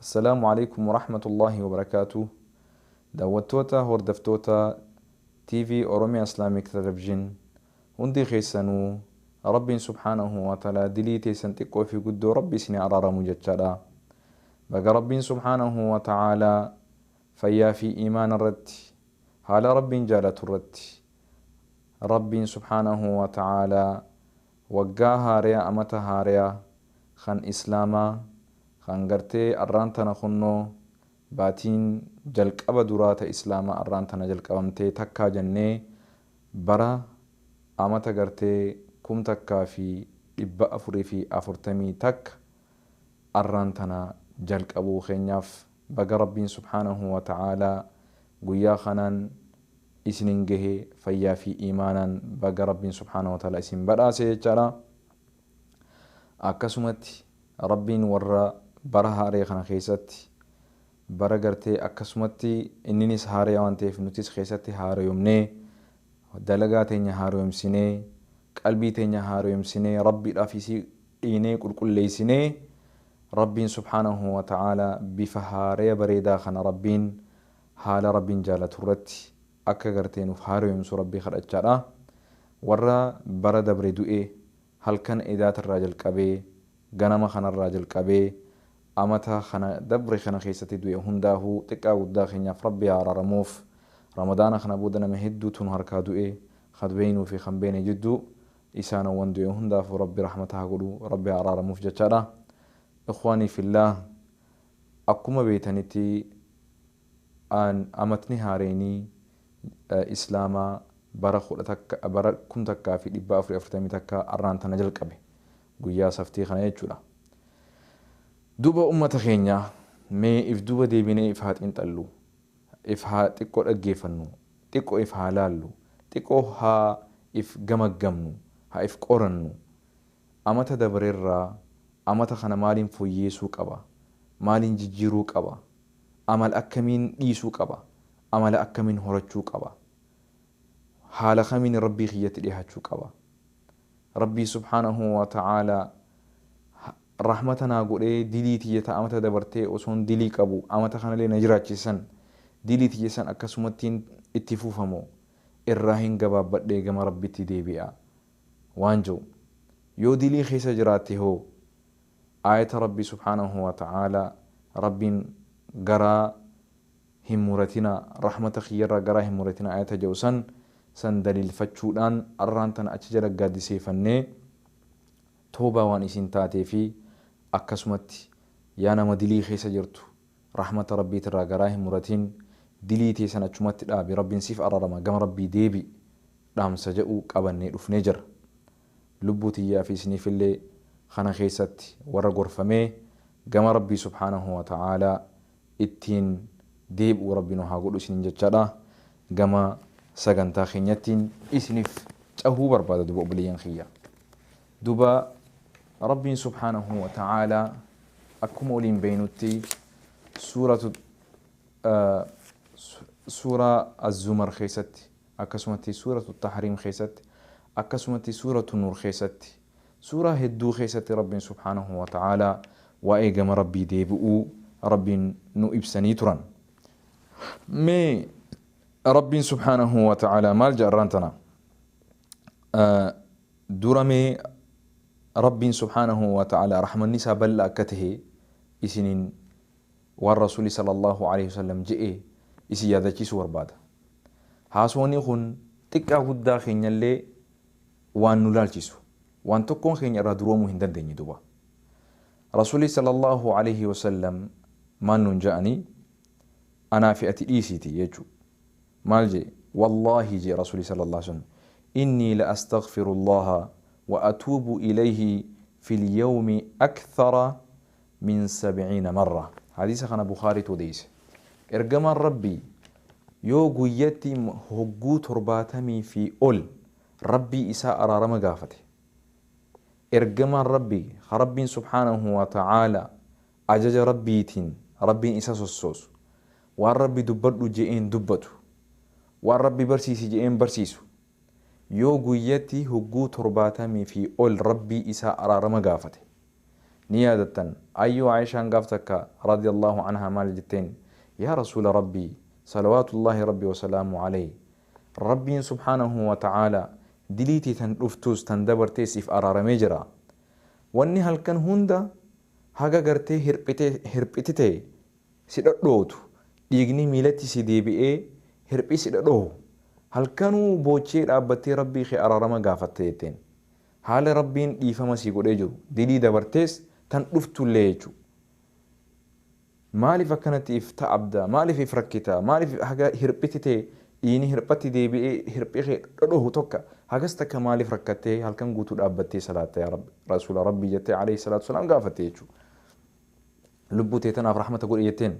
Assalaamu Aleykum Warahmatullaahi Wabarakaatuh Daawwattoota Hordaftoota TV Oromia Islamic Television Hundii keessanuu Rabbiin Subhaanahu Wa Ta'alaa Dilii teessan Xiqqoo fi Guddoo Rabbi isinii Araaramu jechaadha Baga Rabbiin Subhaanahu Wa Ta'alaa Fayyaa fi Iimaana irratti Haala Rabbiin Jaalatu irratti Rabbiin Subhaanahu Wa Ta'alaa Waggaa haareya amata haareya kan islaamaa kan gartee arraan tana kunnoo baatiin jalqaba duraa ta islaamaa arraan tana jalqabamtee takkaa jannee bara amata gartee kum takkaa fi dhibba afurii fi afurtamii takka arraan tana jalqabuu keenyaaf Baga Rabbiin subhaanahu wa ta'aalaa guyyaa kanaan isinin gahe fayyaa fi iimaanaan baga Rabbiin subhaanahu wa ta'aalaa isin badhaase jechaadha. Akkasumatti Rabbiin warra bara haaree kana keessatti bara gartee akkasumatti inninis haareya waan ta'eef nutis keessatti haareyomnee dalagaa teenya haareyomsinee qalbii teenya haareyomsinee Rabbiidhaaf isii dhiinee qulqulleeysinee Rabbiin subhaanahu wa ta'aalaa bifa haaraya bareedaa kana Rabbiin haala Rabbiin jaalatu irratti akka gartee nuuf haarayomsu Rabbii kadhachaadha. Warra bara dabre du'e halkan edaata irraa jalqabee ganama kana irraa jalqabee amata kana dabre kana keessatti du'e hundaahu xiqqaa guddaa keenyaaf Rabbi haa araaramuuf. Ramadaana kana booda nama hedduutu nu harkaa du'e, kan beeynuu fi kan beeyne jidduu Isaana wan du'e hundaafu rabbi rahmata ha godhu rabbi ha araaramuf jachaadha ikhwaani fillaah akkuma beeytaniti an amatni haareyni islaama bara kudha takka bara kum takkaa fi dhibba afuri afurtamii takka arraan tana jalqabe guyyaa saftii kana jechuudha duuba ummata keenya mee if duuba deebine if haa xiinxallu if haa xiqqo dhaggeefannu Xiqqo if haa laallu. Xiqqo ha if gamaggamnu. Ha if qorannu. Amata dabrerraa amata kana maaliin foyyeesuu qaba? Maaliin jijjiiruu qaba? Amal akkamiin dhiisuu qaba? Amala akkamiin horachuu qaba? Haala kamiin Rabbii kiyyatti dhihaachuu qaba? Rabbii subhaanahu wa ta'aalaa rahmata naa godhee dilii tiyya ta amata dabartee osoon dilii qabu amata kanalee na jiraachise san dilii tiyya san akkasumattiin itti fufa moo irraahin gabaabbadhee gama Rabbitti deebi'a waan je'u yoo dilii keessa jiraatte hoo aayata Rabbii subhaanahu wa ta'aalaa Rabbiin garaa hin muratinaa, rahmata kiyyarraa garaa hin muratinaa aayata ja'u san, san daliilfachuudhaan arraan tana achi jala gaaddiseeyfannee tawbaa waan isiin taateefi akkasumatti yaa nama dilii keessa jirtu rahmata Rabbiitirraa garaa hin muratin dilii tee san achumatti dhaabi Rabbiin siif ararama gama Rabbii deebi dhaamsa ja'u qabannee dhufnee jirra. Lubbuu tiyyaafi isiniifillee kana keessatti warra gorfamee gama Rabbii subhaanahu wa ta'aalaa ittiin deeb'u rabbi nu haa godhu isiniin jechaadha gama sagantaa keenyattiin isinif cahuu barbaada duba obboleeyyan kiyya duba rabbiin subhaanahu wa ta'aala akkuma waliin beeynutti suuratu suuraa az-zumar keessatti akkasumatti suuratu tahriim keessatti akkasumatti suuratu nuur keessatti Suuraa hedduu keessatti Rabbiin subhaanahu wa ta'aalaa waa'ee gama Rabbii deebi'uu Rabbiin nu ibsanii turan. Mee Rabbiin subhaanahu wa ta'aalaa maal jedha arraan tana? Dura mee Rabbiin subhaanahu wa ta'aalaa rahmanni isaa bal'aa akka tahe isiniin waan Rasuulli sallallahu alayhi wasallam je'e isin yaadachiisuu barbaada. Haasawni kun xiqqaa guddaa keenyallee waan nu laalchisu waan tokkoon keenya irraa duroomuu hin dandeenye duba Rasuulii sallallaahu aleeyhi wasallam maal nuun ja'anii anaa fi ati dhiisiiti jechu maal je'e wallaahi je'e Rasuulii sallallaahu aleeyhi wasallam innii la astaghfirullaaha wa atuubu ileeyhi fil yawmi akthara min sab'iina marra. Hadiisa kana Bukhaariitu odeeyse. Ergamaan Rabbii yoo guyyatti hogguu torbaatamii fi ol Rabbii isaa araarama gaafate. Ergamaan Rabbii ka Rabbiin subhaanahu wa ta'aalaa ajaja Rabbiitiin Rabbiin isa sossoosu, waan Rabbi dubbadhu je'een dubbatu, waan Rabbi barsiisi je'een barsiisu, Yoo guyyatti hugguu torbaatamii fi ol Rabbii isaa araarama gaafate. Ni yaadattan, Ayyuu Aa'ishaan gaaf takka, radiyallaahu anhaa, maal jetteen? Yaa Rasuula Rabbii, salawaatullaahi Rabbi wa salaamuhu alayhi, Rabbiin subhaanahu wa ta'aalaa dilii tee tan dhuftuus tan dabartees siif araaramee jira. Wanni halkan hunda haga gartee hirphite, hirphitite si dhodhootu, dhiigni miilatti si deebi'ee hirphi si dhodhohu, halkanuu boochee dhaabbattee Rabbii kee araarama gaafatta jetteen. Haala Rabbiin dhiifama sii godhee jiru, dilii dabartees tan dhuftullee jechu. Maaliif akkanatti if ta'abda, maaliif if rakkita, maaliif haga hirphiti tee dhiini hirphatti deebi'ee hirphi kee dhodhohu tokka hagas takka maaliif rakkattee halkan guutuu dhaabbattee salaatta yaa Rabbi, Rasuula Rabbii jettee Aleyhi salaatu wasalaam gaafatte jechu. Lubbuu tee tanaaf rahmata godhi jetteen.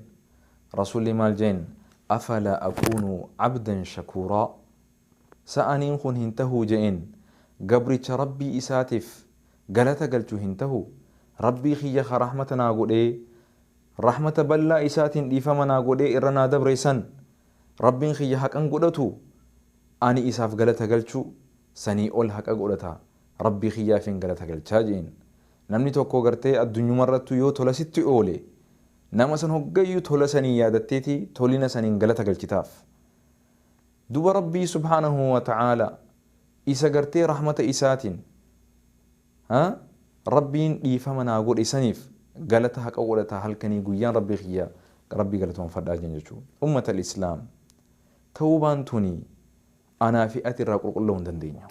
Rasuulli maal jeen? Afalaa akuunu abdan shakuuraa? Sa aniin kun hin tahuu je'een? Gabricha Rabbii isaatiif galata galchu hin tahu? Rabbii kiyya ka rahmata naa godhee, rahmata bal'aa isaatiin dhiifama naa godhee irra naa dabre san, Rabbiin kiyya haqan godhatuu? Ani isaaf galata galchu sanii ol haqa godhata. Rabbii kiyyaafin galata galchaa je'een. Namni tokko gartee addunyumarrattuu yoo tola sitti oole, nama san hoggayyuu tola sanii yaadatteeti tolina saniin galata galchitaaf. Duuba Rabbii subhaanahu wa ta'aalaa isa gartee rahmata isaatiin, ha, Rabbiin dhiifama naa godhe saniif galata haqa godhataa halkanii guyyaan Rabbii kiyya Rabbii galatoonfadhaa je'an jechuudha. Ummatal islaam! Tawbaan tuni Anaa fi ati irraa qulqulla'uu hin dandeenyu.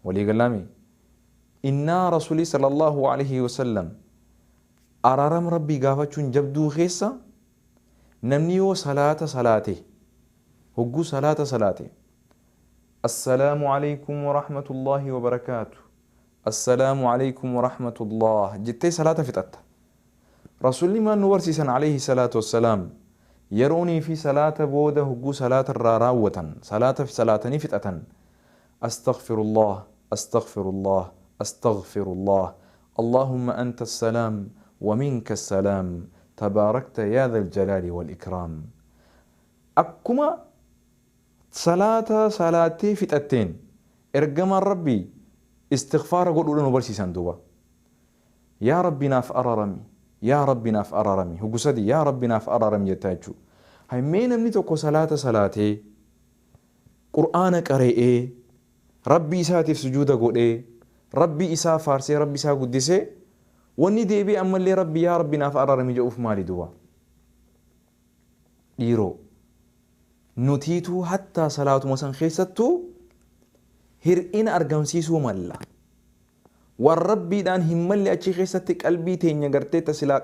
Walii gallaa mii? Innaa Rasulii sallallahu alayhi wa sallam araaram Rabbii gaafachuun jabduu keessa namni yoo salaata salaate hogguu salaata salaate Assalaamu alaykum wa rahmatullahi wa barakaatu Assalaamu alaykum wa rahmatullah jettee salaata fixatta. Rasuulli maal nu barsiisan Aleeyhi salaatu wassalaam? Yeroonii fi salaata booda hogguu salaata irraa raawwatan, salaata salaatanii fixatan, Astaghfirullaah, Astaghfirullaah, Astaghfirullaah, Allaahumma anta as-salaam wa minka as-salaam, tabaarakta yaa dhal jalaali wal ikraam. Akkuma salaata salaattee fixatteen Ergamaan Rabbii istighfaara godhuudha nu barsiisan duuba. Yaa rabbi naaf ararami Yaa rabbi naaf ararami hogu sadii Yaa rabbi naaf ararami jettaa jechuu hay mee namni tokko salaata salaatee qur'aana qare'ee rabbi isaatiif sujuuda godhee rabbi isaa faarsee rabbi isaa guddisee wanni deebi'e ammallee rabbi yaa rabbi naaf ararami ja'uuf maali duba dhiiroo nutiituu hattaa salaatuma san keessattuu hir'ina argamsiisuu malla Waan Rabbiidhaan hin malle achi keessatti qalbii teenya gartee ta silaa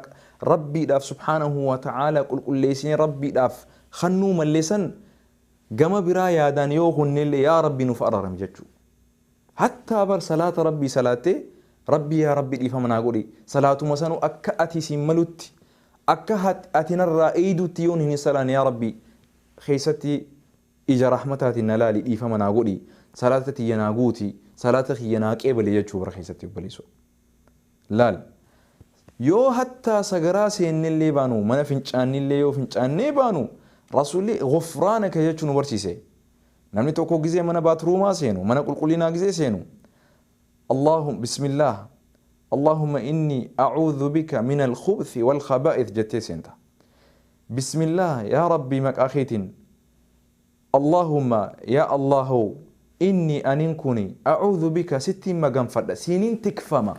Rabbiidhaaf subhaanahu wa ta'aalaa qulqulleessinee Rabbiidhaaf kannuu malle san gama biraa yaadaan yoo kunnellee yaa Rabbi nuuf araarami jechuu. Hattaa bar salaata Rabbii salaattee Rabbii yaa Rabbi dhiifama naa godhi salaatuma sanuu akka ati siin malutti akka ati narraa eeydutti yoon hin salaanne yaa Rabbi keessatti Ija rahmataatiin na laali dhiifama naa godhi salaata tiyya naa guuti salaata kiyya naa qeebali jechuu bara keessatti obboleessoo laal yoo hattaa sagaraa seennellee baanu mana fincaannillee yoo fincaannee baanu rasuulli gufraanaka jechuu nu barsiise namni tokko gizee mana baatruumaa seenu mana qulqullinaa gizee seenu Allaahum bismillaah Allaahumma inni a'uudhu bika minal khubthi wal khabaa'ith jettee seenta Bismillah yaa rabbii maqaa keetin Allahumma yaa Allah hoo innii anin kuni a'uudhu bika sittin maganfadha siinin tikfama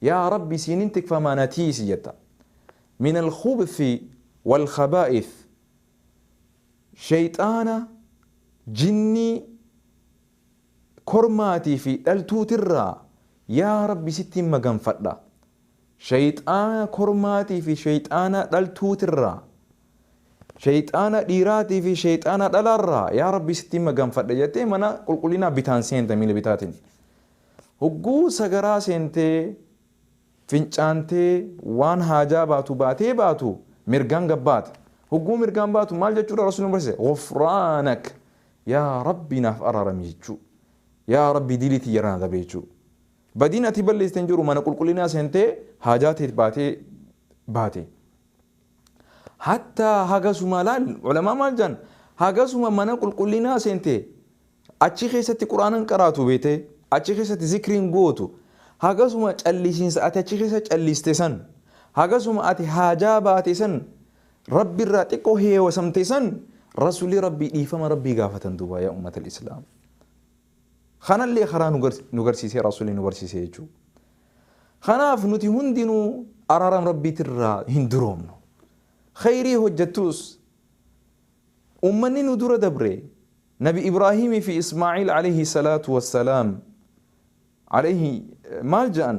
yaa rabbi siinin tikfama na tiisi jetta minal khubthi wal khabaa'ith sheyxaana jinnii kormaatii fi dhaltuutirraa yaa Rabbi sittin maganfadha. Sheyxaana kormaatii fi sheyxaana dhaltuutirraa, sheyxaana dhiiraatii fi sheyxaana dhalaarraa yaa Rabbi sittin maganfadha jettee mana qulqullinaa bitaan seenta miila bitaatiin. Hogguu sagaraa seentee. Fincaantee waan haajaa baatu baatee baatu mirgaan gad baate. Hogguu mirgaan baatu maal jechuudha Rasuulli nu barsiise? Ghufraanak! Yaa Rabbi naaf araarami jechuu. Yaa Rabbi dilii tiyya irraa na dabe jechuu. Badiin ati balleessite hin jiru mana qulqullinaa seentee haajaa tee baatee baate. Hatta hagasuma laal ulamaa maal jaan hagasuma mana qulqullinaa seente achi keessatti quraanan qaraatu beete achi keessatti zikriin gootu hagasuma callisiinsa ati achi keessa calliste san hagasuma ati haajaa baate san rabbi irraa xiqqoo heewasamte san rasulii rabbii dhiifama rabbii gaafatan duuba yaa ummatal islaam Kanallee karaa nu garsiisee Rasuulli nu barsiise jechuu. Kanaaf nuti hundinuu araaram Rabbiitirraa hin duroomnu. Kheyrii hojjattuus ummanni nu dura dabre Nabi Ibraahiimii fi Ismaa'iil aleyhi salaatu wassalaam aleyhi maal ja'an?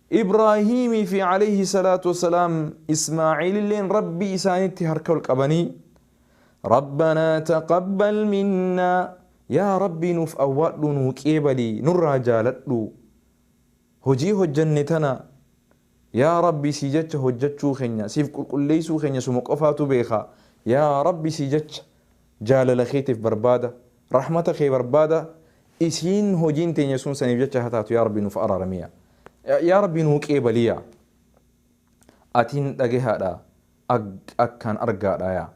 Ibraahiimii fi aleyhi salaatu wa salaam Ismaa'iililleen Rabbii isaanitti harka ol qabanii, Rabbanaa taqabbal minnaa, Yaa Rabbii nuuf awwaadhuu nuu qeebali, nurraa jaaladhu. Hojii hojjanne tana Yaa Rabbii sii jecha hojjachuu keenya, siif qulqulleeysuu keenya suma qofaatu beeka. Yaa Rabbi sii jecha jaalala keetiif barbaada. Rahmata kee barbaada isiin hojiin teenya sun saniif jecha ha taatu yaa rabbi nuuf araarami yaa yaa rabbi nuu qeebali yaa atiin dhagehaadha ag akkaan argaadha yaa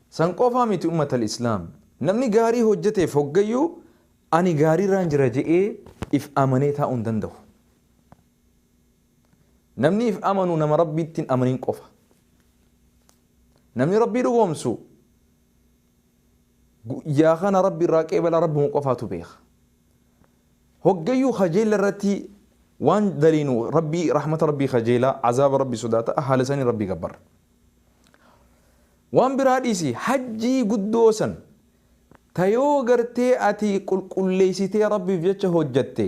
san qofaa miti ummatal islaam namni gaarii hojjateef hoggayyuu ani gaariirraan jira je'ee if amanee taa'uu hin dandahu namni if amanu nama rabbiitti hin amanin qofa namni rabbii dhugoomsu Guyyaa kana Rabbi irraa qeebala Rabbuma qofaatu beeka. Hoggayyuu kajeella irratti waan daliinu Rabbi rahmata Rabbi kajeela, azaaba Rabbi sodaata, haala sanii Rabbi gabbarra. Waan biraa dhiisi hajjii guddoo san ta yoo gartee ati qulqulleeysitee Rabbiif jecha hojjatte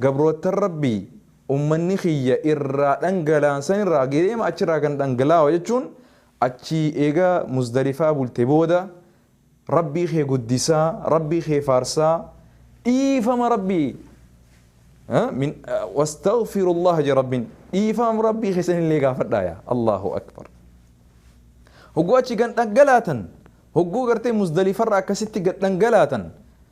Gabroottan Rabbii ummanni kiyya irraa dhangala'an san irraa ge'eema achi irraa kan dhangalaawa jechuun achii eega Muzdalifaa bulte booda Rabbii kee guddisaa, Rabbii kee faarsaa, dhiifama Rabbii ha, min, wastaghfirullaha je Rabbiin dhiifama Rabbii keessan illee gaafadhaa yaa Allahu Akbar. Hogguu achi gad dhangalaatan hogguu gartee Muzdalifarra akkasitti gad dhangalaatan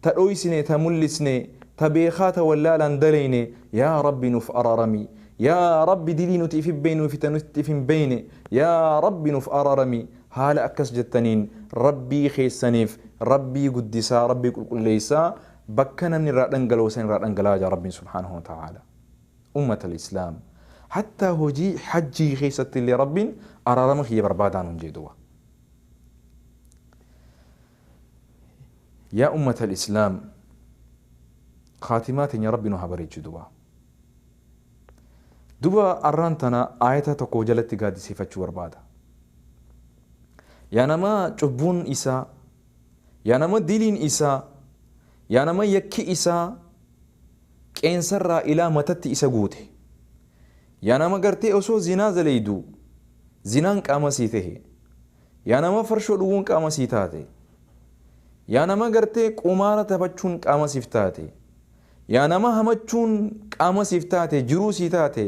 Ta dhoysine ta mullisne ta beekhaa ta wallaalaan dalayne yaa rabbi nuf ararami yaa rabbi dilii nuti ifi beynuu fi ta nuti ifi hin beyne yaa rabbi nuf ararami haala akkas jettaniin rabbii keessaniif rabbii guddisaa rabbii qulqulleeysaa bakka namni irraa dhangala'u san irraa dhangala'aa jaa rabbiin subhaanahu wa ta'aalaa ummatal islaam hattaa hojii hajjii keessatti illee rabbiin araarama kiyya barbaadaa nuun jee duba. Yaa ummatal islaam khaatimaa teenya rabbi nu haa bareechu duba duba arraan tana aayata tokko jalatti gaaddiseefachuu barbaada yaa nama cubbuun isaa yaa nama diliin isaa yaa nama yakki isaa qeensarraa ilaa matatti isa guute yaa nama gartee osoo zinaa zaleeydu zinaan qaama sii tahe Yaa nama farshoo dhuguun qaama sii taate. Yaa nama gartee qumaara taphachuun qaama siif taate. Yaa nama hamachuun qaama siif taate, jiruu sii taate.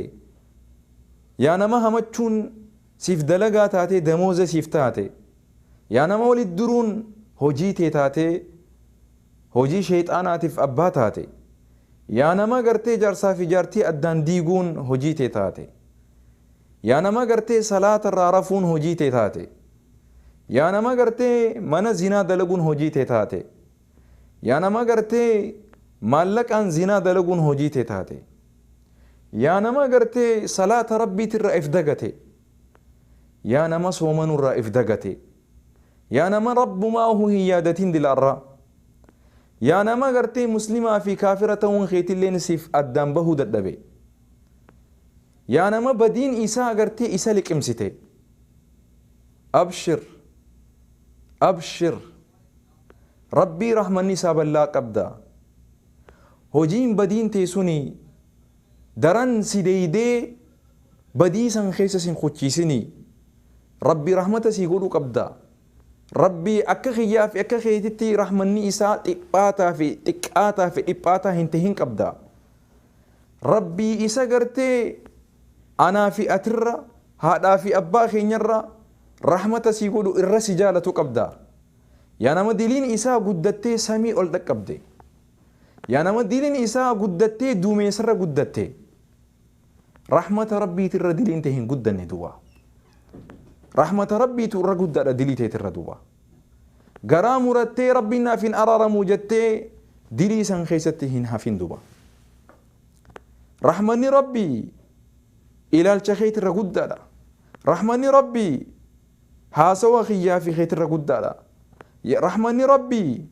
Yaa nama hamachuun siif dalagaa taatee damooza siif taate. Yaa nama walitti duruun hojii tee taatee hojii sheyxaanaatiif abbaa taate. Yaa nama gartee jaarsaa fi jaartii addaan diiguun hojii tee taate. Yaa nama gartee salaata irraa rafuun hojii tee taate. Yaa nama gartee mana zinaa dalaguun hojii tee taate. Yaa nama gartee maallaqaan zinaa dalaguun hojii tee taate. Yaa nama gartee salaata Rabbiiti irraa if dagate. Yaa nama soomanuu irraa if dagate. Yaa nama Rabbumaahu hin yaadatiin dila irraa. Yaa nama gartee muslimaa fi kaafira ta'uun keetilleen siif addaan bahuu dadhabe. Yaa nama badiin isaa agartee isa liqimsite abshir abshir rabbii rahmanni isaa ballaa qabda hojiin badiin tee suni daran si deeydee badii san keessa sin kuchiisini rabbi rahmata sii godhu qabda rabbii akka kiyyaa fi akka keetitti rahmanni isaa dhiphaataa fi xiqqaataa fi dhiphaataa hin tahin qabda Rabbii isa gartee anaa fi atirra haadhaa fi abbaa keenyarra rahmata sii godhu irra si jaalatu qabda. Yaa nama diliin isaa guddattee samii ol dhaqqabde. Yaa nama diliin isaa guddattee duumeessarra guddatte. Rahmata Rabbiitirra diliin tee hin guddanne duuba. Rahmata Rabbiitu irra guddaadha dilii teetirra duuba. Garaa murattee Rabbiin naaf hin araaramu jettee dilii san keessatti hin hafin duba. Rahmanni Rabbii ilaalcha keetirra guddaadha. Rahmanni Rabbii haasawa kiyyaa fi keetirra guddaadha. Rahmanni Rabbii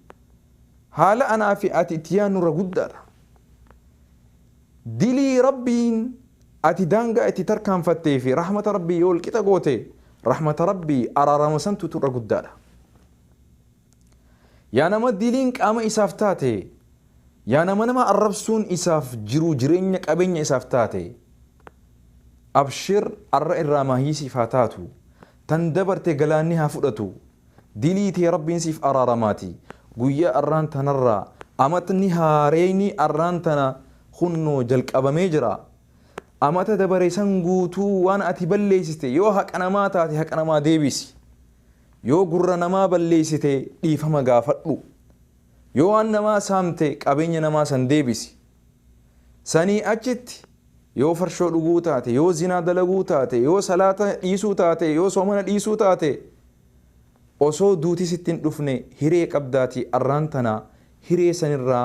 haala anaa fi ati itti yaannurra guddaadha. Dilii Rabbiin ati daangaa itti tarkaanfattee fi rahmata Rabbii yoo walqixa goote, rahmata Rabbii, araarama santu tu irra guddaadha. Yaa nama diliin qaama isaaf taate, yaa nama nama arrabsuun isaaf jiruu jireenya qabeenya isaaf taate, abshir arra irraa maahii siif haa taatu, tan dabarte galaanni haa fudhatu, Dilii tee Rabbiin siif araaramaati. Guyyaa arraan tanarraa amatni haareyni arraan tana kunnoo jalqabamee jira. Amata dabare san guutuu waan ati balleeysiste yoo haqa namaa taate haqa namaa deebiisi. Yoo gurra namaa balleeysite dhiifama gaafadhu. Yoo waan namaa saamte qabeenya namaa san deebisi. Sanii achitti yoo farshoo dhuguu taate, yoo zinaa dalaguu taate, yoo salaata dhiisuu taate, yoo soomana dhiisuu taate, osoo duuti sitti hin dhufne hiree qabdaatii arraan tana hiree sanirraa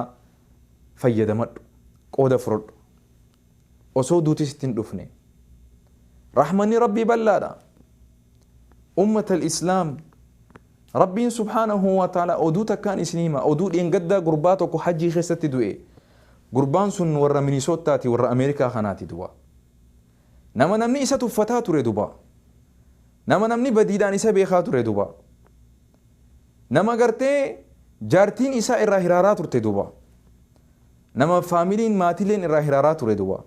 fayyadamadhu, qooda fudhadhu. Osoo duuti sitti hin dhufne. Rahmanni Rabbii bal'aadha. Ummatal islaam Rabbiin subhaanahu wa ta'aalaa oduu takkaan isin hima oduu dheengaddaa gurbaa tokko hajjii keessatti du'e gurbaan sun warra minisoottaati warra Ameerikaa kanaati duba nama namni isa tuffataa ture duba nama namni badiidhaan isa beekaa ture duba nama gartee jaartiin isaa irraa hiraaraa turte duba Nama familiin maatiileen irraa hiraaraa ture duuba.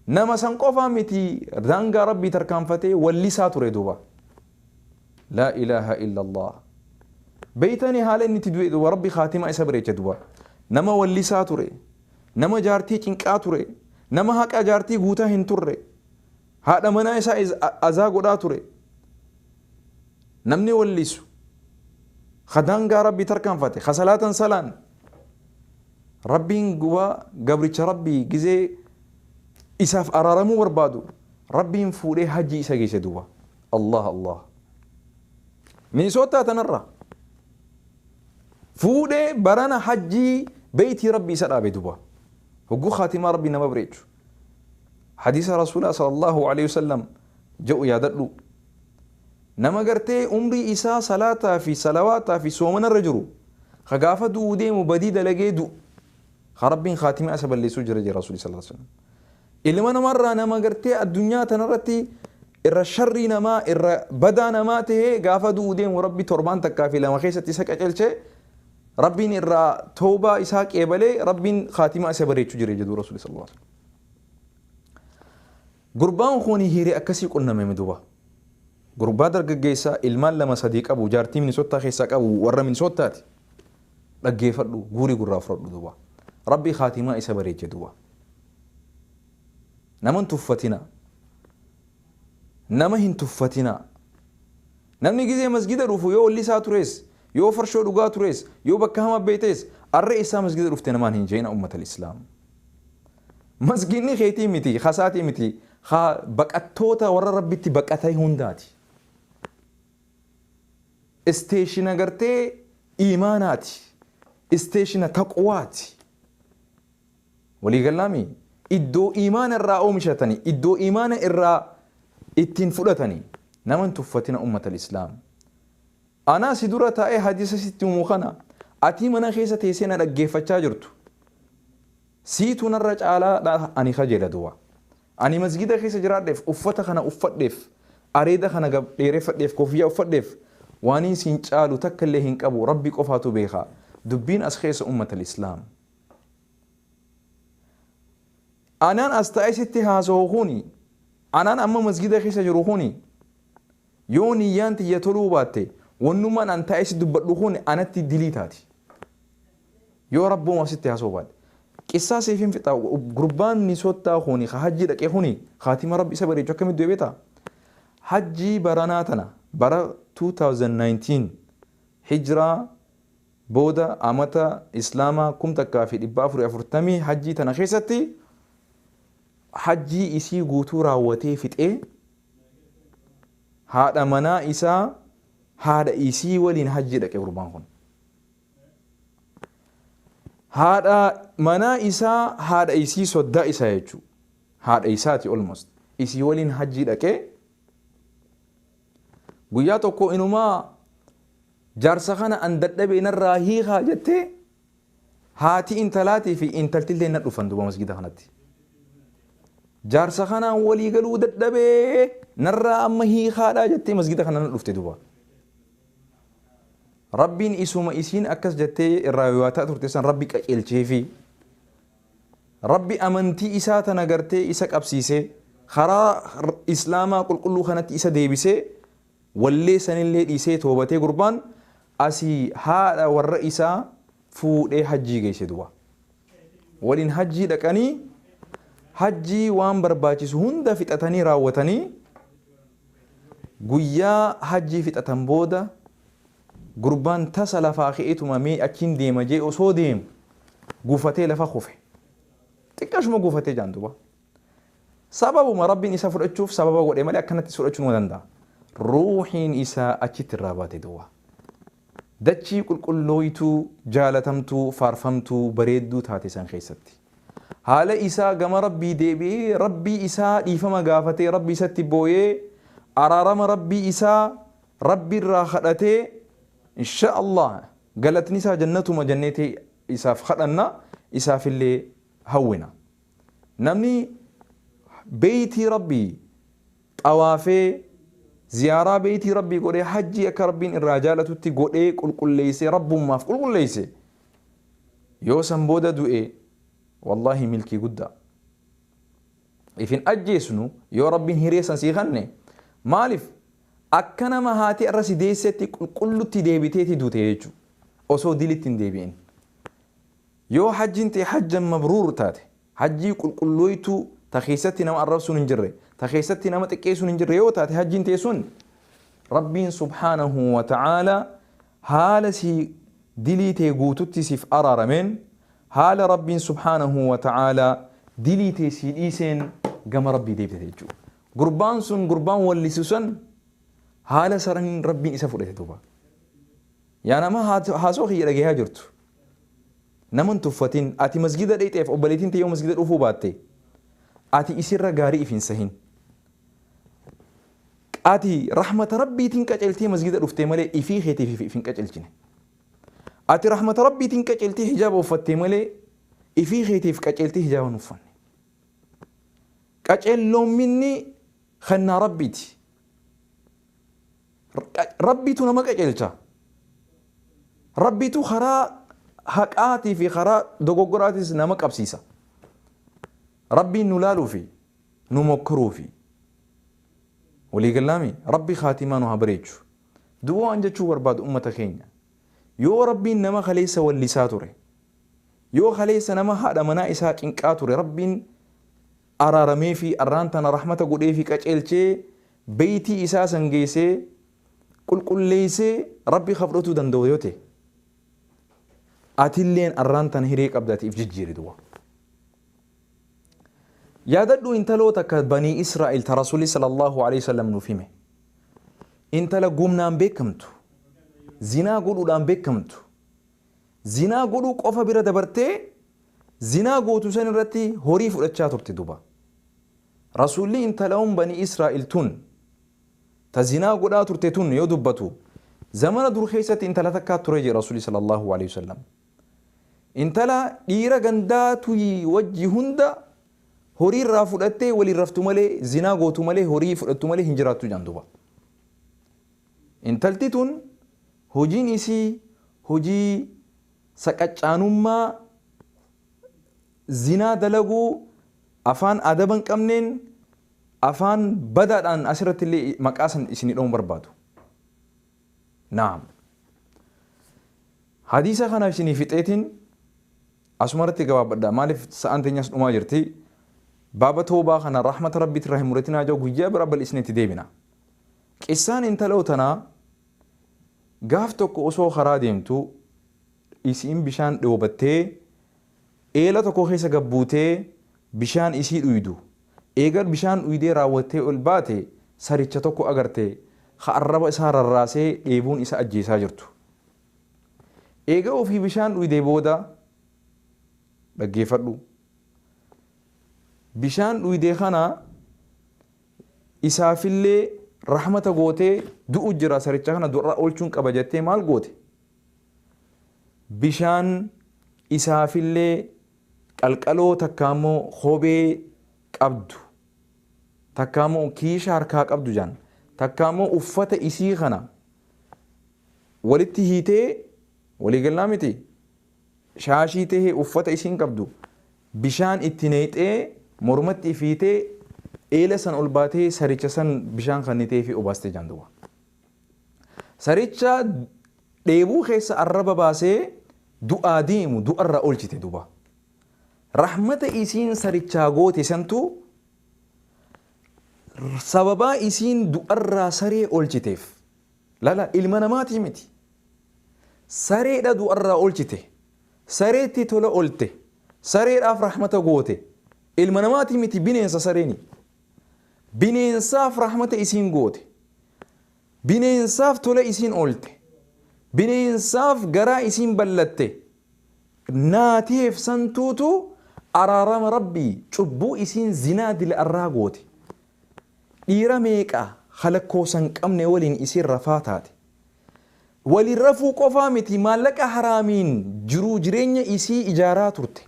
Nama san qofaa miti daangaa Rabbii tarkaanfatee wallisaa ture duuba. Laa ilaaha illallah. Beeytanii haala inni itti du'e duuba Rabbi khaatimaa isa bareecha duuba. Nama wallisaa ture. Nama jaartii cinqaa ture. Nama haqa jaartii guutaa hin turre. Haadha manaa isaa azaa godhaa ture. Namni wallisu. Kha daangaa Rabbii tarkaanfate. Kha salaatan salaanne. Rabbiin guba gabricha Rabbii gizee isaaf araaramuu barbaadu Rabbiin fuudhee hajjii isa geesse duuba. Allah Allah. Minisootaa tanarraa fuudhee barana hajjii beeytii Rabbii isa dhaabe duuba. Hogguu khaatimaa Rabbii nama bareechu. Hadiisa Rasuulaa sallallahu alayhi wasallam ja'u yaadadhu. Nama gartee umrii isaa salaataa fi salawaataa fi soomana irra jiru ka gaafa du'uu deemu badii dalagee du'u ka Rabbiin khaatimaa isa balleessuu jira jira Rasuulli sallallahu alaihi wasallam. Ilma namarraa nama gartee addunyaa tanarratti irra sharrii namaa irra badaa namaa ta'ee gaafa du'uu deemu Rabbi torbaan takkaa fi lama keessatti isa qacelchee Rabbiin irraa toobaa isaa qeebalee Rabbiin khaatimaa isa bareechuu jira jedhu Rasuulli sallallahu alaihi wasallam. Gurbaan kuni hiiri akkasii qunnamemi duba. Gurbaa dargaggeessa ilmaan lama sadii qabu jaartii Minnesota keessaa qabu warra Minnesota ti. Dhaggeefadhu guuri gurraa fudhadhu duba. Rabbi khaatimaa isa bareeche duba. Nama hin tuffatina. Nama hin tuffatina. Namni gizee masgida dhufu yoo wallisaa turees, yoo farshoo dhugaa turees, yoo bakka hamaa beeytees arra essaa masgida dhufte namaan hin jeeyina ummatal islaam. Masgiidni keetii miti, ka isaatii miti, ka baqattoota warra Rabbitti baqatee hundaati. Isteeshina gartee iimaanaati. Isteeshina taqwaati. Walii gallaa mii? Iddoo iimaana irraa oomishatani, iddoo iimaana irraa ittiin fudhatani. Nama hin tuffatina ummatal islaam. Anaa si dura taa'ee hadiisa sitti himu kana atii mana keessa teessee na dhaggeeffachaa jirtu. Siitu narra caalaa dha ani kajeela duwaa. Ani masgiida keessa jiraadheef, uffata kana uffadheef, areeda kana gab dheereffadheef, kofiyyaa uffadheef, waaniin siin caalu takka illee hin qabu, Rabbi qofaatu beeka. Dubbiin as keessa ummatal islaam. Anaan as taa'ee sitti haasawu kuni, anaan amma masgiida keessa jiru kuni, Yoo niyyaan tiyya toluu baatte, wannumaan an taa'ee si dubbadhu kun anatti dilii taati. Yoo Rabbumaaf sitti haasa'uu baadhe. Qissaa siifin fixa, gurbaan Minisottaa kuni ka hajjii dhaqe kuni khaatima Rabbi isa bareechu akkamitti du'e beektaa? Hajjii baranaa tana, bara 2019, Hijraa, booda amata Islaamaa 1440 hajjii tana keessatti hajjii isii guutuu raawwatee fixee haadha manaa isaa haadha isii waliin hajjii dhaqe gurbaan kun haadha manaa isaa haadha isii soddaa isaa jechuu haadha isaati almost isii waliin hajjii dhaqee guyyaa tokko inumaa jaarsa kana an dadhabee narraa hiikaa jettee Haati intalaatii fi intaltilleen na dhufan duuba masgida kanatti. Jaarsa kanaan walii galuu dadhabee narraa amma hiikaadhaa jettee masgida kana na dhufte duuba. Rabbiin isuma isiin akkas jettee irraa yooyaataa turte san Rabbi qaceelcheefi. Rabbi amantii isaa tana gartee isa qabsiisee karaa Islaamaa qulqulluu kanatti isa deebisee Wallee sanillee dhiisee toobatee gurbaan asii haadha warra isaa fuudhee hajjii geesse duba. Waliin hajjii dhaqanii hajjii waan barbaachisu hunda fixatanii raawwatanii guyyaa hajjii fixatan booda gurbaan tasa lafaa ka'eetuma mee achiin deema jee osoo deemu gufatee lafa kufe. Xiqqashuma gufatee jaan duba. Sababuma Rabbiin isa fudhachuuf sababa godhe malee akkanatti is fudhachuu numa danda'a. Ruuhiin isaa achitti irraa baate duwwaa. Dachii qulqullooytuu, jaalatamtuu, faarfamtuu, bareedduu taate san keessatti. Haala isaa gama Rabbii deebi'ee, Rabbii isaa dhiifama gaafatee, Rabbii isatti booyee, araarama Rabbii isaa Rabbi irraa kadhatee, inshaa Allah galatni isaa jannatuma jennee isaaf kadhanna, isaafillee hawwina. Namni beeytii Rabbii xawaafee ziyaaraa beeytii Rabbii godhee hajjii akka Rabbiin irraa jaalatutti godhee qulqulleeysee Rabbummaaf qulqulleeyse yoo san booda du'e wallaahi milkii guddaa. If hin ajjeesnu yoo Rabbiin hiree san sii kanne maalif akka nama haati irra si deeysetti qulqullutti deebiteeti duute jechu osoo dilitti hin deebi'in. Yoo hajjiin tee hajjan mabruur taate, hajjii qulqullooytuu ta keessatti nama arrabsuun hin jirre, ta keessatti nama xiqqeessuun hin jirre yoo taate hajjiin tee sun, Rabbiin subhaanahu wa ta'aalaa haala sii dilii tee guututti siif araarameen, haala Rabbiin subhaanahu wa ta'aalaa dilii tee sii dhiiseen gama Rabbii deebite jechuudha. Gurbaan sun gurbaan wallisu san haala saniin Rabbiin isa fudhate duuba. Yaa nama haasoo kiyya dhagayaa jirtu. Nama hin tuffatin. Ati masgiida dheyxeef obboleeytiin tee yoo masgiida dhufuu baatte ati isirra gaarii if hin sahin. Ati rahmata Rabbiitiin qaceltee masgiida dhuftee malee ifii keetiif if hin qacelchine. Ati rahmata Rabbiitiin qaceltee hijaaba uffattee malee ifii keetiif qaceltee hijaaba hin uffanne. Qaceelloomminni kennaa Rabbiiti. Rabbiitu nama qaceelcha. Rabbiitu karaa haqaatii fi karaa dogoggoraatiis nama qabsiisa. Rabbiin nu laaluu fi nu mokkoruu fi walii gallaami Rabbi kaatimaa nu haa bareechu. Duuba waan jechuu barbaadu ummata keenya yoo Rabbiin nama kaleessa wallisaa ture yoo kaleessa nama haadha manaa isaa cinqaa ture Rabbiin araarameefii arraan tana rahmata godheefii qaceelchee beeytii isaa san geeysee qulqulleeysee Rabbii ka fudhatuu danda'u yoo ta'e atilleen arraan tana hiree qabda ati if jijjiiri duba yaadadhu intaloo takka banii Israa'el ta Rasuulli sallallahu alaihi wasallam nuuf hime intala gumnaan beekamtu zinaa godhuudhaan beekamtu Zinaa godhuu qofa bira dabartee zinaa gootu san irratti horii fudhachaa turte duba. Rasuulli intalaun banii Israa'iil tun ta zinaa godhaa turte tun yoo dubbatu zamana dur keessatti intala takkaa ture jedhe Rasuulli sallallahu alaihi wasallam. Intala dhiira gandaa tuyi wajji hunda horii irraa fudhattee waliin raftu malee zinaa gootu malee horii fudhattu malee hin jiraattu jedhan duba. Intalti tun hojiin isii hojii saqacaanummaa zinaa dalaguu afaan adaba hin qabneen afaan badaadhaan asirratti illee maqaa san isinii dha'uun barbaadu. Naam. Hadiisa kana isinii fixeetiin asuma irratti gabaabadha maaliif sa'aan teenyas dhumaa jirti. Baaba toobaa kana rahmata rabbiitirraa hin muretinaa jaa guyyaa biraa bal'isnee itti deebina. Qissaan intaloo tanaa gaaf tokko osoo karaa deemtu isiin bishaan dhoobattee eela tokko keessa gad buutee bishaan isii dhuydu eega bishaan dhuydee raawwattee ol baate saricha tokko agarte ka arraba isaa rarraasee dheebuun isa ajjeesaa jirtu. Eega ofii bishaan dhuydee booda dhaggeeffadhu bishaan dhuydee kana isaafillee rahmata gootee du'u jira saricha kana du'arraa oolchuun qaba jettee maal goote bishaan isaafillee qalqaloo takkaa immoo kophee qabdu takkaa immoo kiisha harkaa qabdu jaan takkaa immoo uffata isii kana walitti hiitee waliigallaa miti shaashii tahee uffata isiin qabdu Bishaan itti nayxee mormatti ifiitee eela san ol baatee saricha san bishaan kanniteefii obaaste jaan duuba. Saricha dheebuu keessa arraba baasee du'aa deemu du'arraa oolchite duuba. Rahmata isiin sarichaa goote santu sababaa isiin du'arraa saree oolchiteef Lala ilma namaatii miti. Sareedha du'arraa olchite. Sareetti tola olte. Sareedhaaf rahmata goote. Ilma namaatii miti bineensa sareeni. Bineensaaf rahmata isiin goote. Bineensaaf tola isiin olte. Bineensaaf garaa isiin ballatte. Naateef santuutu araarama Rabbii cubbuu isiin zinaa dila'arraa goote. Dhiira meeqa ka lakkoofsa hin qabne waliin isiin rafaa taate. Waliin rafuu qofaa miti maallaqa haraamiin jiruu jireenya isii ijaaraa turte.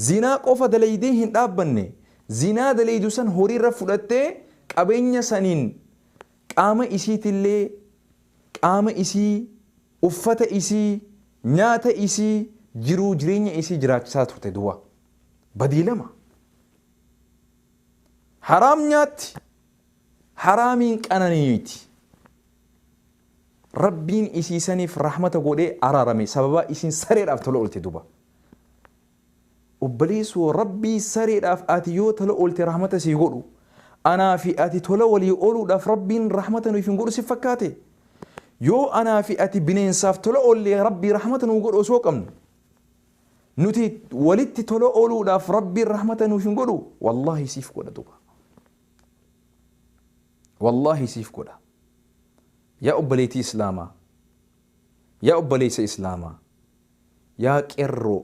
Zinaa qofa dalaydee hin dhaabbanne. Zinaa dalaydu san horiirra fudhattee qabeenya saniin qaama isiitillee, qaama isii, uffata isii, nyaata isii, jiruu jireenya isii jiraachisaa turte duwwaa. Badii lama. Haraam nyaatti haraamiin qananiiti. Rabbiin isii saniif rahmata godhee araarame sababaa isiin sareedhaaf tola oolte duba. Obboleessoo Rabbii sareedhaaf ati yoo tola oolte rahmata sii godhu anaa fi ati tola walii ooluudhaaf Rabbiin rahmata nuuf hin godhu si fakkaate. Yoo anaa fi ati bineensaaf tola oollee Rabbii rahmata nuu godhu osoo qabnu. Nuti walitti tola ooluudhaaf Rabbiin rahmata nuuf hin godhu? Wallaahi siif godha duba. Wallaahi siif godha. Yaa obboleetii Islaamaa, yaa obboleessa Islaamaa, yaa qerroo,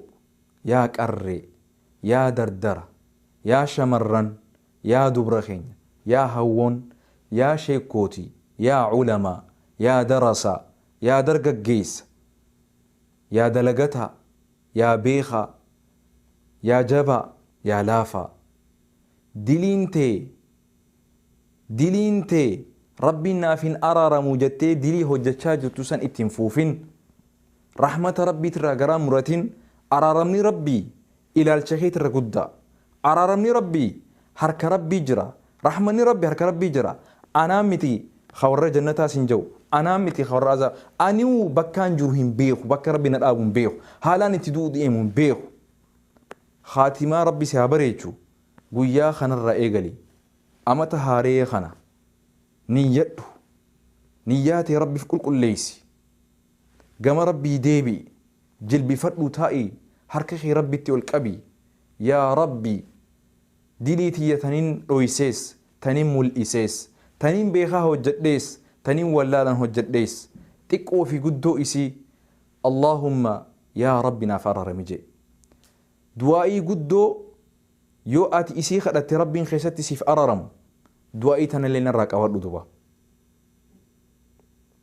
yaa qarree, yaa dardara, yaa shamarran, yaa dubra keenya, yaa hawwoon, yaa sheekkootii, yaa ulamaa, yaa darasaa, yaa dargaggeessa, Yaa dalagataa, yaa beekaa, yaa jabaa, yaa laafaa. Diliin tee, diliin tee Rabbiin naaf hin araaramu jettee dilii hojjachaa jirtu san itti hin fuufin. Rahmata Rabbiitirraa garaa muratin, araaramni Rabbii ilaalcha keeti irra guddaa. Araaramni Rabbii harka Rabbii jira. Rahmanni Rabbi harka Rabbii jira. Anaa miti ka warra jannataa sin ja'u. Anaa miti ka warra azaaba. Aniu bakkaan jiru hin beeku. Bakka Rabbi na dhaabu hin beeku. Haalaan itti du'u deemu hin beeku. Khaatimaa Rabbi si haa bareechu. Guyyaa kanarraa eegali. Amata haaree kana niyyadhu. Niyyaa tee Rabbiif qulqulleessi. Gama Rabbii deebi'i, jilbifadhuu taa'i, harka kee Rabbitti ol qabi, Yaa Rabbi! Dilii tiyya tanin dhoysees, tanin mul'isees, tanin beekaa hojjadhees, tanin wallaalan hojjadhees, xiqqoo fi guddoo isii, Allaahumma yaa Rabbi naaf ararami je'i. Du'aa'ii guddoo yoo ati isii kadhatte Rabbiin keessatti siif araramu, du'aa'ii tanallee narraa qabadhu duba.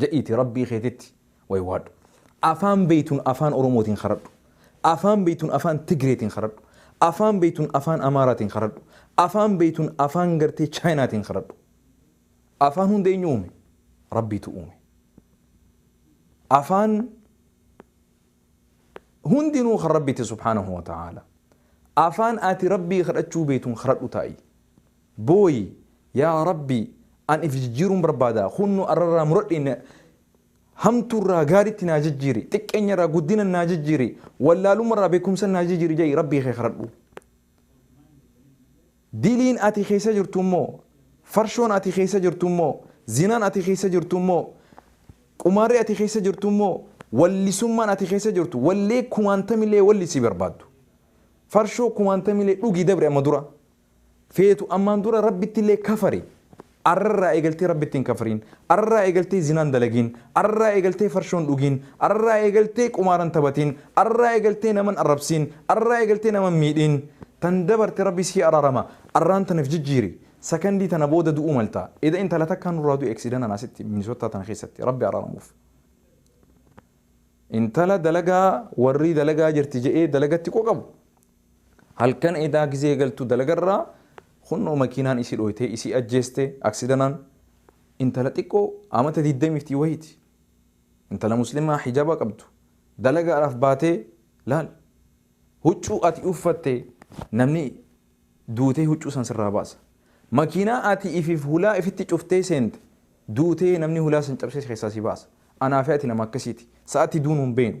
Jedhiiti Rabbii keetitti waywaadhu. Afaan beeytun Afaan Oromootiin kadhadhu. Afaan beeytun Afaan Tigreetiin kadhadhu. Afaan beeytun Afaan Amaaraatiin kadhadhu. Afaan beeytun Afaan gartee Chaayinaatiin kadhadhu. Afaan hunda eenyu uume? Rabbiitu uume. Afaan hundinuu kan Rabbiiti subhaanahu wa ta'aala. Afaan ati Rabbii kadhachuu beeytun kadhadhu taa'i. Booyi yaa rabbii an if jijjiiruun barbaada kunno arrarraa muradhe na hamtuurraa gaaritti naa jijjiiri xiqqeenyarraa guddinan naa jijjiiri wallaalummarraa beekumsan naa jijjiiri ja'i rabbii kee kadhadhu diliin ati keessa jirtu immoo farshoon ati keessa jirtu immoo zinaan ati keessa jirtu immoo qumaarri ati keessa jirtu immoo wallisummaan ati keessa jirtu wallee kumaantamilee wallisi barbaaddu farshoo kumaantamilee dhugi dabre amma dura feetu ammaan dura Rabbittillee kafari arrarraa eegaltee Rabbitti hin kafriin arrarraa eegaltee zinaan dalagiin arrarraa eegaltee farshoon dhugiin arrarraa eegaltee qumaaran tabatiin arrarraa eegaltee naman arrabsiin arrarraa eegaltee naman miidhiin tan dabarte Rabbi sii araarama arraan tana if jijjiiri sakandii tana booda du'uu malta eda intala takkaa nurraa du'e eksidanaan asitti Minnesota tana keessatti Rabbi araaramuuf intala dalagaa warrii dalagaa jirti je'ee dalagatti qoqabu Halkan edaa gizee galtu dalagarraa kunnoo makiinaan isi dhooytee isi ajjeeste aksidanaan intala xiqqoo amata digdamii ftii wahiiti intala muslimaa hijaba qabdu dalagaadhaaf baatee laal huccuu ati uffatte namni duutee huccuu san sirraa baasa makiinaa ati ifif hulaa ifitti cuftee seente duutee namni hulaa san cabsee si keessaa si baasa anaa fi ati nama akkasiiti sa'atti duunu hin beeynu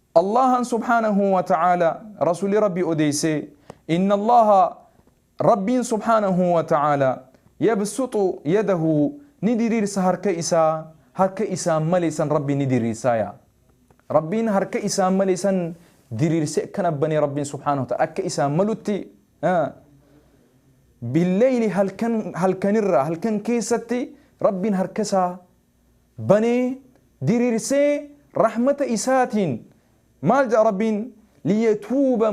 Allaahan subhaanahu wa ta'aalaa Rasuulli Rabbii odeessee, Inna Allaaha Rabbiin subhaanahu wa ta'aalaa yabsuxu yadahu ni diriirsa harka isaa, harka isaan male san Rabbiin ni diriirsaaya. Rabbiin harka isaan male san diriirsee akkana banee Rabbiin subhaanahu wa ta'aalaa akka isaan malutti Bil-leyli halkan halkanirraa halkan keessatti Rabbiin harka isaa banee, diriirsee, rahmata Isaatiin maal jedha Rabbiin? Liyatuuba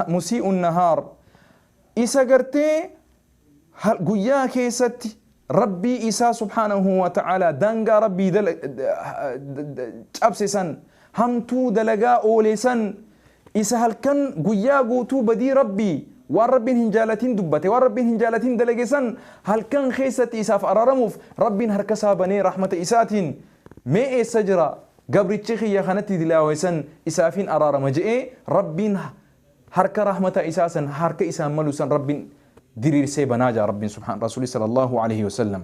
musii'u nahaar. Isa gartee guyyaa keessatti Rabbii isaa subhaanahu wa ta'aalaa daangaa Rabbii cabse san hamtuu dalagaa oole san, isa halkan guyyaa guutuu badii Rabbii, waan Rabbiin hin jaalatin dubbate, waan Rabbiin hin jaalatin dalage san, halkan keessatti isaaf araaramuuf Rabbiin harka isaa banee rahmata isaatiin, mee eessa jira gabrichi kiyya ka natti dilaawe san, isaafin araarama je'ee, Rabbiin harka rahmata isaa san, harka isaan malu san Rabbiin diriirsee banaa ja'a Rabbiin subhaan, Rasuulli sallallaahu aleeyhi wasallam.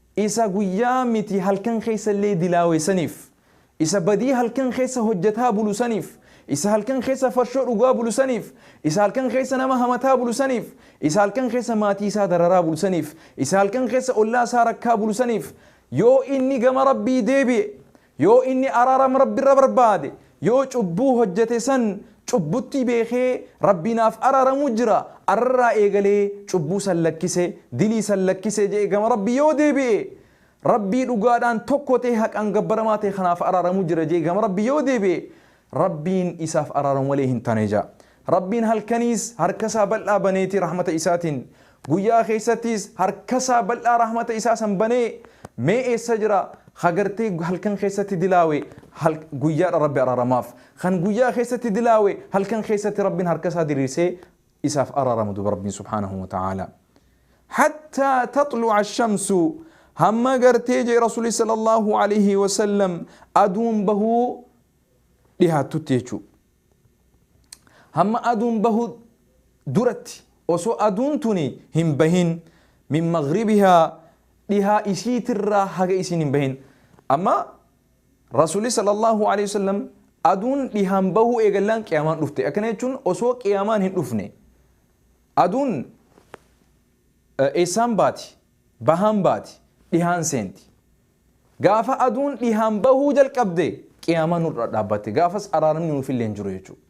Isa guyyaa miti halkan keessa illee dilaawe saniif, isa badii halkan keessa hojjataa bulu saniif, isa halkan keessa farshoo dhugaa bulu saniif, isa halkan keessa nama hamataa bulu saniif, isa halkan keessa maatii isaa dararaa bulu saniif, isa halkan keessa ollaa isaa rakkaa bulu saniif, yoo inni gama Rabbii deebi'e, Yoo inni araarama Rabbirra barbaade, yoo cubbuu hojjate san cubbuttii beekee Rabbii naaf araaramu jira, arrarraa eegalee cubbuu san lakkise, dilii san lakkise je'ee gama Rabbii yoo deebi'e, Rabbii dhugaadhaan tokko ta'ee haqaan gabbaramaa ta'e kanaaf araaramu jira je'ee gama Rabbii yoo deebi'e, Rabbiin isaaf araaramu malee hin tane ja'a. Rabbiin halkaniis harka isaa bal'aa baneeti rahmata isaatiin, guyyaa keessattiis harka isaa bal'aa rahmata isaa san banee mee eessa jira ha gartee halkan keessatti dilaawe hal, guyyaadha Rabbi araaramaaf. Kan guyyaa keessatti dilaawe halkan keessatti Rabbiin harka isaa diriirsee isaaf araaramu duba Rabbiin subhaanahu wa ta'aala. Hattaa taxlu'a ashamsu hamma gartee jee Rasuuli sallallahu alayhi wa sallam aduun bahuu dhihaattutti jechuu. Hamma aduun bahu duratti osoo aduun tuni hin bahin min maghribihaa dhihaa isiitirraa haga isiin hin bahin. Amma Rasuulli sallallahu alaihi wasallam aduun dhihaan bahuu eegallaan qiyaamaan dhufte. Akkana jechuun osoo qiyaamaan hin dhufne aduun eessaan baati bahaan baati dhihaan seenti. Gaafa aduun dhihaan bahuu jalqabde qiyaamaan nurra dhaabbatte. Gaafas araaramni nuufillee hin jiru jechuudha.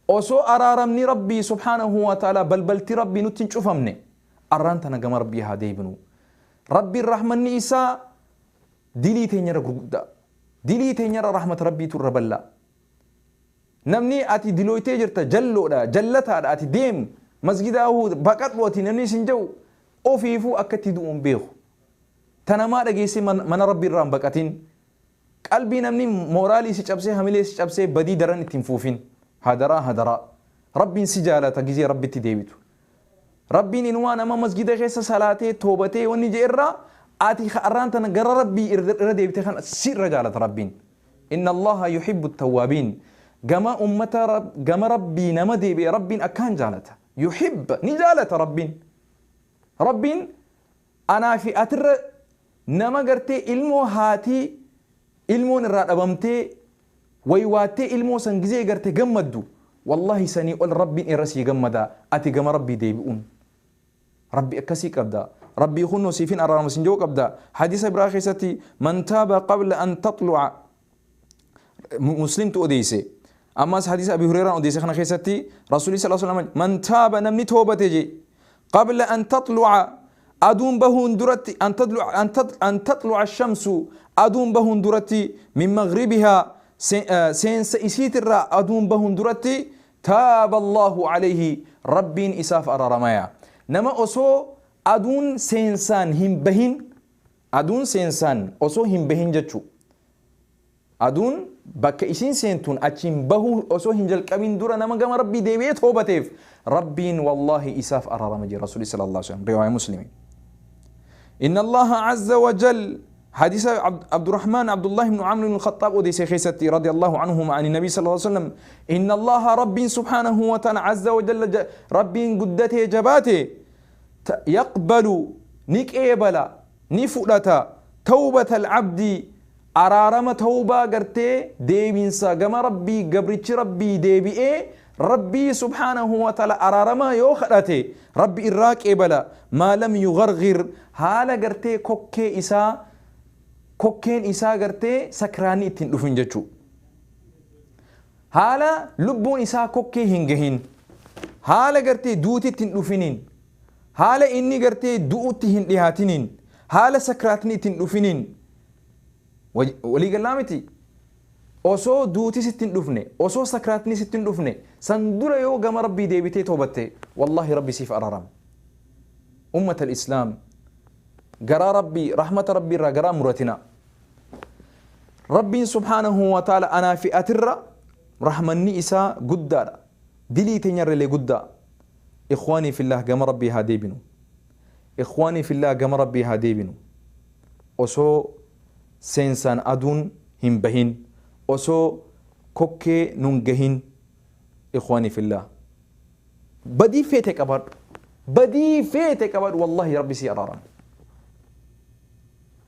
Osoo araaramni Rabbii subhaanahu wa ta'aalaa balbalti Rabbii nutti hin cufamne arraan tana gama Rabbii haa deebinu. Rabbiin rahmanni isaa dilii teenyarra gurguddaa. Dilii teenyarra rahmata Rabbiitu irra bal'aa. Namni ati dilooytee jirta jalloodha, jallataadha ati deem masgidaa baqadhu ati namni isin jedhu ofiifuu akkatti du'uun beeku. Ta namaa dhageessee mana Rabbii irraa hin baqatin. Qalbii namni mooraalii si cabsee hamilee si cabsee badii daran itti hin fuufin. Hadaraa hadaraa. Rabbiin si jaalata gizee Rabbitti deebitu. Rabbiin inumaa nama masjida keessa salaatee toobatee wanni je'e irraa ati ka arraan tana gara Rabbii irra deebite kana si irra jaalata Rabbiin. Inna Allaaha yuhibbu tawwaabiin. Gama ummata gama Rabbii nama deebi'e Rabbiin akkaan jaalata. Yuhibba ni jaalata Rabbiin. Rabbiin Anaa fi atirra nama gartee ilmoo haatii ilmoon irraa dhabamtee waywaattee ilmoo san gizee garte gammaddu wallahi sanii ol rabbiin irra sii gammada ati gama rabbii deebi'uun rabbi akkasii qabda rabbii kunno siif hin araarama sin je'u qabda hadisa biraa keessatti man taaba qabla an taxlu'a muslimtu odeeyse ammas hadiisa abi hureeraan odeeyse kana keessatti rasuulii sala salama man taaba namni toobate jee qabla an taxluca aduun bahuun duratti an taxluca shamsu aduun bahuun duratti min magribihaa seensa isiitirraa aduun bahuun duratti taaba allaahu calayhi rabbiin isaaf araramaya nama osoo aduun seensaan hin bahin Aduun seensaan osoo hin bahin jechuu. Aduun bakka isiin seentuun achiin bahuu osoo hin jalqabin dura nama gama Rabbii deebi'ee toobateef Rabbiin wallaahi isaaf araarama jira Rasuulli sallallahu alaihi wasallam riwaaya Muslimi. Inna Allaha azza wa jal hadisa Abd- Abdurrahman Abdullah ibn Amr ibn Khattab odeesse keessatti radiyallahu anhuma ani nabii sallallahu alaihi wasallam inna Allaha Rabbiin subhanahu wa ta'ala azza wa jalla ja- Rabbiin guddatee jabaate ta, yaqbalu, ni qeebala, ni fudhata, tawbata al-abdi, araarama tawbaa gartee deebinsa gama Rabbii gabrichi Rabbii deebi'ee Rabbii subhaanahu wa ta'aala araaramaa yoo kadhate Rabbi irraa qeebala maa lam yugharghir haala gartee kokkee isaa kokkeen isaa gartee sakraanni itti hin dhufin jechuu Haala lubbuun isaa kokkee hin gahin, haala gartee duuti itti hin dhufiniin, haala inni gartee du'utti hin dhihaatiniin, haala sakraatni itti hin dhufiniin. Walii gallaa miti? Osoo duuti sitti hin dhufne, osoo sakraatni sitti hin dhufne, san dura yoo gama Rabbii deebitee toobatte, wallaahi Rabbi siif araarama. Ummatal Islaam! Garaa Rabbii, rahmata Rabbii irraa garaa hin muratinaa. Rabbiin subhaanahu wa ta'aala anaa fi atirra rahmanni isaa guddaadha. Dilii teenyarralee guddaa. Ikhwaanii fillaah gama Rabbii haa deebinu. Ikhwaanii fillaah gama Rabbii haa deebinu. Osoo seensaan aduun hin bahin, osoo kokkee nun gahin ikhwaanii fillaah. Badii feete qabaadhu. Badii feete qabaadhu wallaahi Rabbi sii araarama.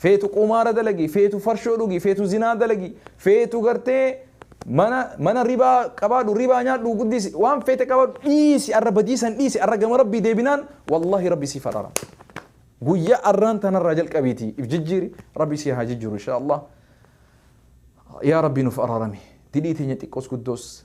Feetu qumaara dalagi, feetu farshoo dhugi, feetu zinaa dalagi, feetu gartee mana mana ribaa qabaadhu, ribaa nyaadhu, guddisi, waan feete qabaadhu dhiisi arra badii san dhiisi arra gama Rabbii deebinaan wallahi Rabbi siif araarama. Guyyaa arraan tanarraa jalqabiitii if jijjiiri Rabbi si haa jijjiiru inshaa Allah. Yaa Rabbi nuf araarami. Dilii teenya xiqqoos guddoos.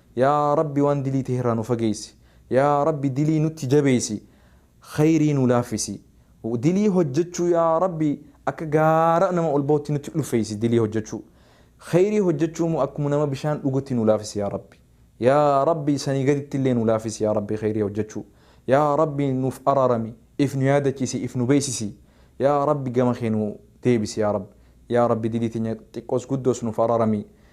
Yaa rabbi waan dilii tahe irraa nu fageeysi yaa rabbi dilii nutti jabeeysi kheyrii nu laaffisi dilii hojjachuu yaa rabbi akka gaara nama ol bahutti nutti ulfeeysi dilii hojjachuu kheyrii hojjachuu immoo akkuma nama bishaan dhugutti nu laafisi yaa rabbi yaa rabbi sanii gaditti illee nu laafisi yaa rabbi kheyrii hojjachuu yaa rabbi nuuf araarami if nu yaadachiisi if nu beeysisi yaa rabbi gama kee nu deebisi yaa rabbi yaa rabbi dilii teenya xiqqoos guddoos nuuf araarami